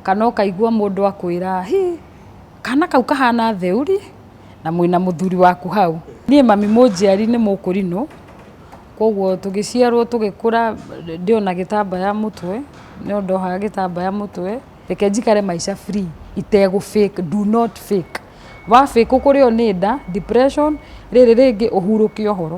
Kana ũkaigua mũndũ akwĩra hi kana kau kahana theũri na mwĩna mũthuri waku hau. Niĩ mami mũnjiari nĩ mũkũrinũ koguo tũgĩciarwo tũgĩkũra ndĩona gĩtambaya mũtwe no ndohaga gĩtambaya mũtwe reke njikare maica free itegũ fake do not fake. Wa fake ũkũrĩo nĩ nda, depression, rĩrĩ rĩngĩ ũhurũke ũhoro.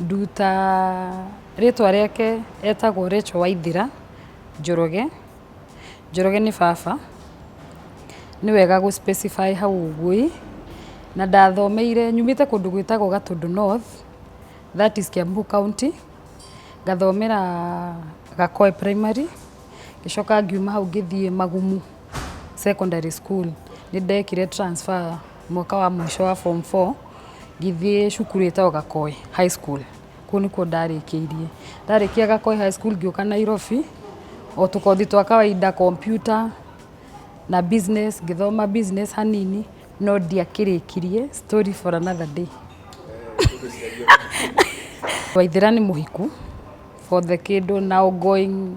Nduta rĩtwa rĩake etagwo Rachel Waithira Njoroge, Njoroge nĩ baba, nĩ wega gũ specify hau ũguo ĩ, na ndathomeire, nyumĩte kũndũ gwĩtagwo Gatũndũ North, that is Kiambu County, ngathomera Gakoe Primary, ngĩcoka ngiuma hau ngĩthiĩ Magumu Secondary School, nĩ ndekire transfer. Mwaka wa mũico wa form four, ngĩthiĩ cukuru ĩtagwo Gakoi High School, kũu nĩkuo ndarĩkĩirie. Ndarĩkia Gakoi High School ngĩũka Nairobi, o tũkothi twa kawainda, computer na business, ngĩthoma business hanini, no ndiakĩrĩkirie, story for another day. Waithĩra nĩ mũhiku, for the kĩndũ now going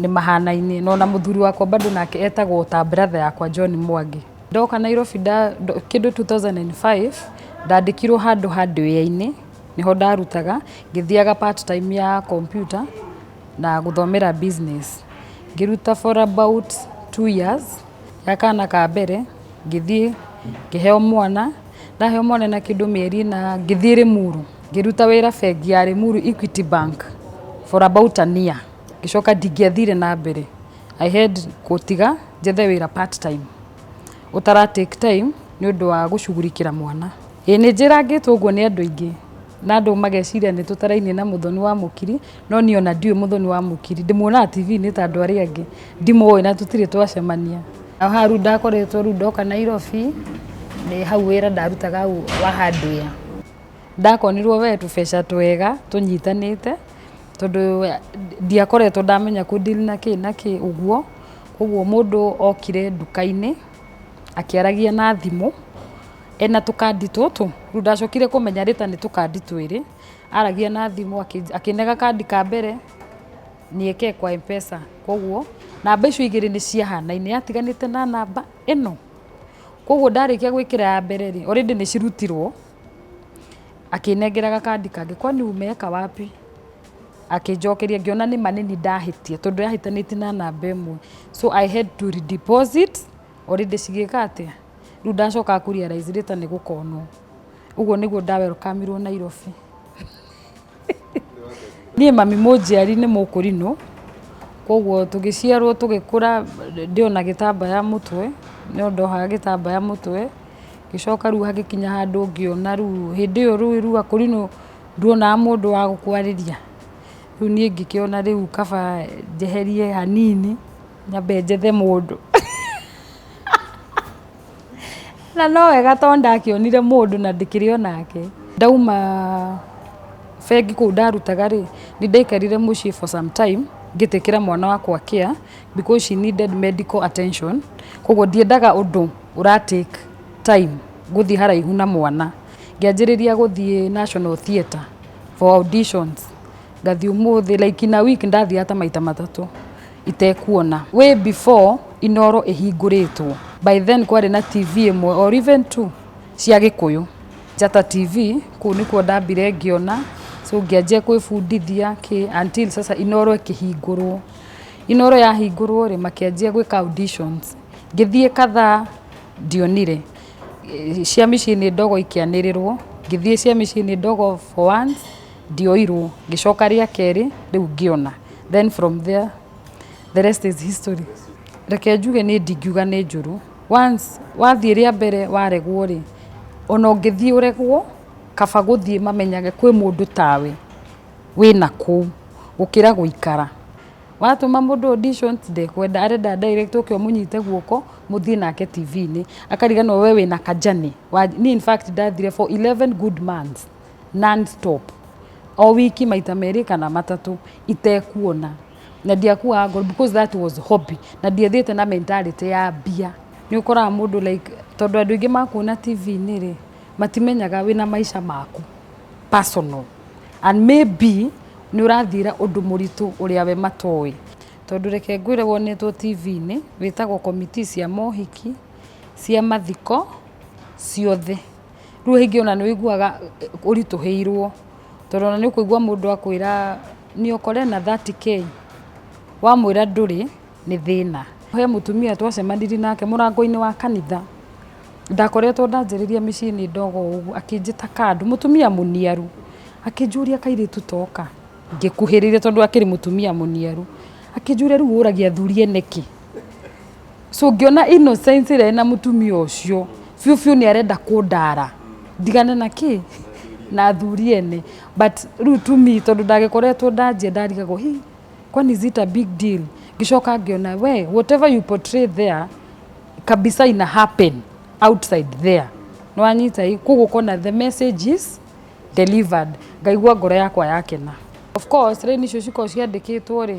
Nĩ mahanaine na ona mũthuri wakwa bado nake etagwo ta brother yakwa John Mwangi. Ndoka Nairobi nda, ndo- kĩndũ 2005 ndandĩkirwo handũ handũ wĩra-inĩ nĩho ndarutaga ngĩthiaga part time ya computer na gũthomera business ngĩruta for about two years ya kana ka mbere ngĩthiĩ ngĩheo mwana ndaheo mwana na kĩndũ mĩeri na ngĩthiĩ Rĩmuru ngĩruta wĩra bengi ya Rĩmuru Equity Bank for about a year Ngĩcoka ndingĩathire na mbere. I had gũtiga njethe wĩra part time ũtara take time nĩ ũndũ wa gũcugurikĩra mwana. Ĩĩ nĩ njĩrangĩtwo ũguo nĩ andũ aingĩ na andũ mageciria nĩ tũtarainie na mũthoni wa mũkiri, no niĩ ona ndiũĩ mũthoni wa mũkiri. Ndĩmuonaga TV-inĩ ta andũ arĩa angĩ, ndimũĩ na tũtirĩ twacemania. Hau hau rĩu ndakoretwo rĩu ndoka Nairobi, nĩ hau wĩra ndarutaga hau wa hardware. Ndakonirwo we tũbeca twega tũnyitanĩte. tondũ ndiakoretwo ndamenya kũ deal na kĩ na kĩ ũguo, ũguo mũndũ okire nduka-inĩ akĩaragia na thimũ ena tũkandi tũtũ, rĩu ndacokire kũmenya rĩta nĩ tũkandi twĩrĩ, aragia na thimũ akĩnenga kandi ka mbere nieke kwa M-pesa, koguo namba icio igĩrĩ nĩ ciahanaine, yatiganĩte na namba ĩno, koguo ndarĩkia gwĩkĩra ya mbere rĩ, already nĩ cirutirwo. Akĩnengera gakandi kangĩ, kwani umeweka wapi? Akĩnjokeria ngĩona nĩ ma nĩ niĩ ndahĩtia tondũ ndahĩtanĩtie na namba ĩmwe. So I had to redeposit already cigĩka atĩa? Rĩu ndacokaga kũ realize later nĩ gũkonwo. Ũguo nĩguo nda welcome irwo Nairobi. Niĩ mami mũnjiari nĩ mũkũrinũ, koguo tũgĩciarwo tũgĩkũra ndĩ o na gĩtambaya mũtwe, no ndohaga gĩtambaya mũtwe, ngĩcoka rĩu hagĩkinya handũ ngĩona rĩu, hĩndĩ ĩyo rĩu rĩu akũrinũ nduonaga mũndũ wa gũkwarĩria, rĩu niĩ ngĩkĩona rĩu kaba njeherie hanini nyambe njethe mũndũ. Na no wega tondũ ndakĩonire mũndũ na ndikĩrĩ o nake. Ndauma bengi kũu ndarutaga rĩ, nĩ ndaikarire mũciĩ for some time ngĩtĩkĩra mwana wakwa care because she needed medical attention. Kwoguo ndiendaga ũndũ ũra take time gũthiĩ haraihu na mwana. Ngĩanjĩrĩria gũthiĩ National Theatre for auditions, ngathiĩ ũmũthĩ, like in a week ndathiaga ta maita matatũ. itekuona. Way before Inooro ĩhingũrĩtwo, by then kwarĩ na TV ĩmwe or even two cia Gĩkũyũ, Njata TV, kũu nĩkuo ndambire ngĩona, so ngĩanjia kwĩbundithia kĩ, until sasa Inooro ĩkĩhingũrwo. Inooro yahingũrwo rĩ, makĩanjia gwĩka auditions. Ngĩthiĩ kadhaa, ndionire. Cia Mĩciĩ nĩ Ndogo ikĩanĩrĩrwo, ngĩthiĩ cia Mĩciĩ nĩ Ndogo for once, Ndioirwo ngĩcoka rĩa kerĩ rĩu ngĩona then from there the rest is history. Reke njuge niĩ ndingiuga nĩ njũru once wathiĩ rĩa mbere waregwo rĩ ona ũngĩthiĩ ũregwo kaba gũthiĩ mamenyage kwĩ mũndũ tawe wĩna kũu gũkĩra gũikara. Watũma mũndũ audition ndekwenda arenda direct ũke ũmũnyite guoko mũthiĩ nake TV-inĩ akariganĩrwo we wĩna ka journey. Niĩ in fact ndathire for eleven good months non stop o wiki maita merĩ kana matatũ itekuona na ndiakuaga ngoro because that was hobby na ndiathiĩte na mentality ya mbia nĩ ũkoraga mũndũ like tondũ andũ aingĩ makuona TV-inĩ rĩ matimenyaga wĩna maica maku personal and maybe nĩ ũrathiĩra ũndũ mũritũ ũrĩa we matoĩ tondũ reke ngwĩre wonetwo TV-inĩ wĩtagwo committee cia mohiki cia mathiko ciothe. Rĩu rĩngĩ ona nĩ ũiguaga ũritũhĩirwo tondũ ona nĩ ũkũigua mũndũ akwĩra nĩ ũkore na 30k, wamwĩra ndũrĩ nĩ thĩna. He mũtumia twacemanirie nake mũrango-inĩ wa kanitha, ndakoretwo ndanjĩrĩria mĩciĩ nĩ ndogo ũguo, akĩnjĩta kando, mũtumia mũniaru, akĩnjũria kairĩtu toka, ngĩkuhĩrĩria tondũ akĩrĩ mũtumia mũniaru, akĩnjũria rĩu ũragia athuri ene kĩ? so ngĩona innocence ĩrĩa ĩna mũtumia ũcio biũ biũ nĩ arenda kũndara ndigane na kĩ na athuri ene but rĩu to me tondũ ndagĩkoretwo ndanjia ndarigagwo hi kwani is it a big deal ngĩcoka ngĩona we whatever you portray there kabisa ina happen outside there nĩwanyita ĩ koguo kona the message is delivered ngaigua ngoro yakwa yakena of course raini icio cikoragwo ciandĩkĩtwo rĩ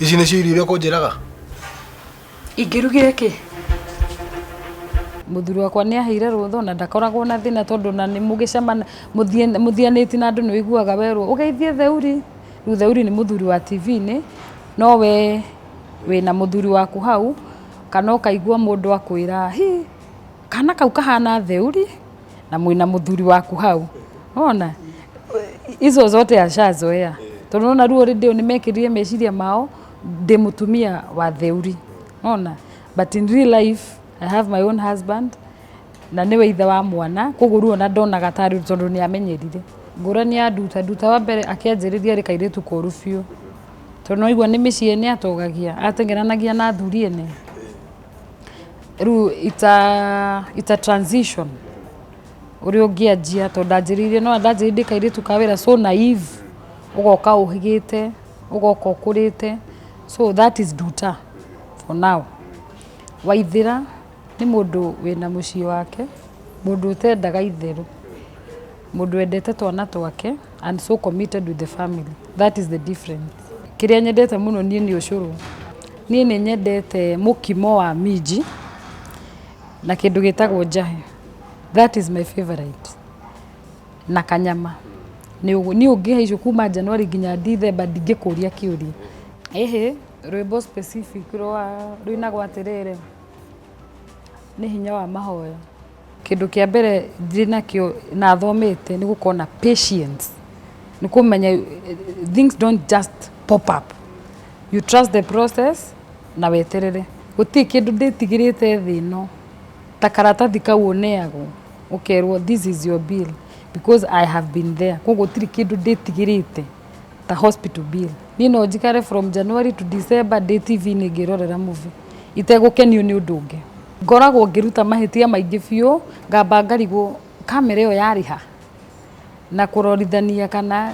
ici nĩcio irio iria kũnjĩraga ingĩrugire kĩ mũthuri wakwa nĩ aheire rũtho na ndakoragwo na thĩna tondũ na nĩ mũgĩcemana mũthie- mũthianĩti na andũ nĩ ũiguaga werwo ũgeithie theuri rĩu theuri nĩ mũthuri wa tv-inĩ no we wĩna mũthuri waku hau kana ũkaigua mũndũ akwĩra hi kana kau kahana theuri na mwina muthuri waku hau ona izo zote ashazoea tondu nona ruo rĩndĩ nĩ mekĩrire meciria mao ndĩ mutumia wa theuri ona but in real life I have my own husband na nĩwe ithe wa mwana koguo ruo na ndonaga tarĩ tondũ nĩ amenyerire ngũrani ya nduta nduta wa mbere akĩanjĩrĩria rĩ kairĩtu koru biũ tondũ nĩ waigua nĩ mĩciĩ nĩ atogagia atengeranagia na athuri ene Rĩu it's a, it's a transition ũrĩa ũngĩanjia tondũ ndanjĩrĩirie no ndanjĩrĩirie ndĩ kairĩtu ka wĩra so naive ũgoka ũhĩgĩte ũgoka ũkũrĩte so that is nduta for now waithĩra nĩ mũndũ wĩna mũciĩ wake mũndũ ũtendaga itherũ Mũndũ wendete twana twake and so committed with the family. That is the difference. Kĩrĩa nyendete mũno niĩ nĩ ũcũrũ. Niĩ nĩ nyendete mũkimo wa minji na kĩndũ gĩtagwo njahĩ. That is my favorite. Na kanyama. Nĩ ũguo. Niĩ ũngĩhe icio kuma January nginya December ndingĩkũria kĩũria. Ĩhĩ, rwĩmbo specific rwa rũinagwo atĩrĩrĩ, nĩ hinya wa mahoya. Kĩndũ kĩa mbere ndĩ nakĩo na thomete nĩ gũkorwo na patience, nĩ kũmenya things don't just pop up, you trust the process na weterere. Gũtirĩ kĩndũ ndĩtigĩrĩte thĩ ĩno, ta karatathi kau ũneagwo ũkerwo this is your bill because I have been there, koguo gũtirĩ kĩndũ ndĩtigĩrĩte. ta hospital bill niĩ no njikare from January to December ndĩ TV-inĩ ngĩrorera movie itegũkenio nĩ ũndũ ũngĩ ngoragwo ngĩruta mahĩtia maingĩ biũ ngamba ngarigwo kamera ĩyo yarĩ ha na kũrorithania kana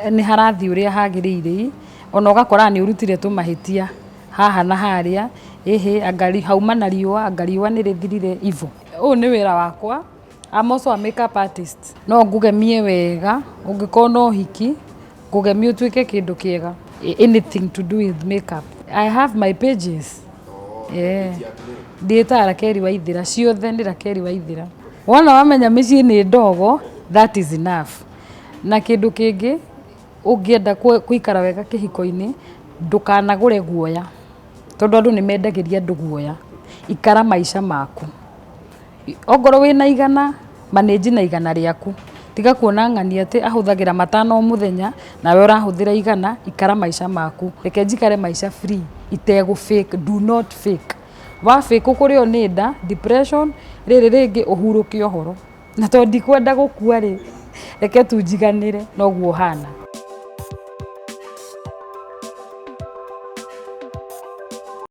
eh, nĩ harathiĩ ũrĩa hagĩrĩire ona ũgakora nĩ ũrutire tũmahĩtia haha na harĩa ĩhĩ anga ri- hauma na riũa anga riũa nĩ rĩthirire ivo ũyũ nĩ wĩra wakwa I'm also a makeup artist. No ngũgemie wega ũngĩkorwo no hiki ngũgemie ũtuĩke kĩndũ kĩega anything to do with makeup. I have my pages. Oh, yeah. Ndĩta Rakeri Waithira ciothe nĩ Rakeri Waithira. Wona wamenya mĩciĩ nĩ ndogo that is enough. Na kĩndũ kĩngĩ ũngĩenda kũikara wega kĩhiko-inĩ ndũkanagũre guoya tondũ andũ nĩ mendagĩria andũ guoya. Ikara maica maku. Ongorwo wĩna igana, manage na igana rĩaku. Tiga kuona ng'ani atĩ ahũthagĩra matano o mũthenya, nawe ũrahũthĩra igana, ikara maica maku. Reke njikare maica free itegũ fake, do not fake. Wa fake ũkũrĩo nĩ nda, depression, rĩrĩ rĩngĩ ũhurũke ũhoro. Na tondũ ndikwenda gũkua rĩ, reke tu njiganĩre na ũguo hana.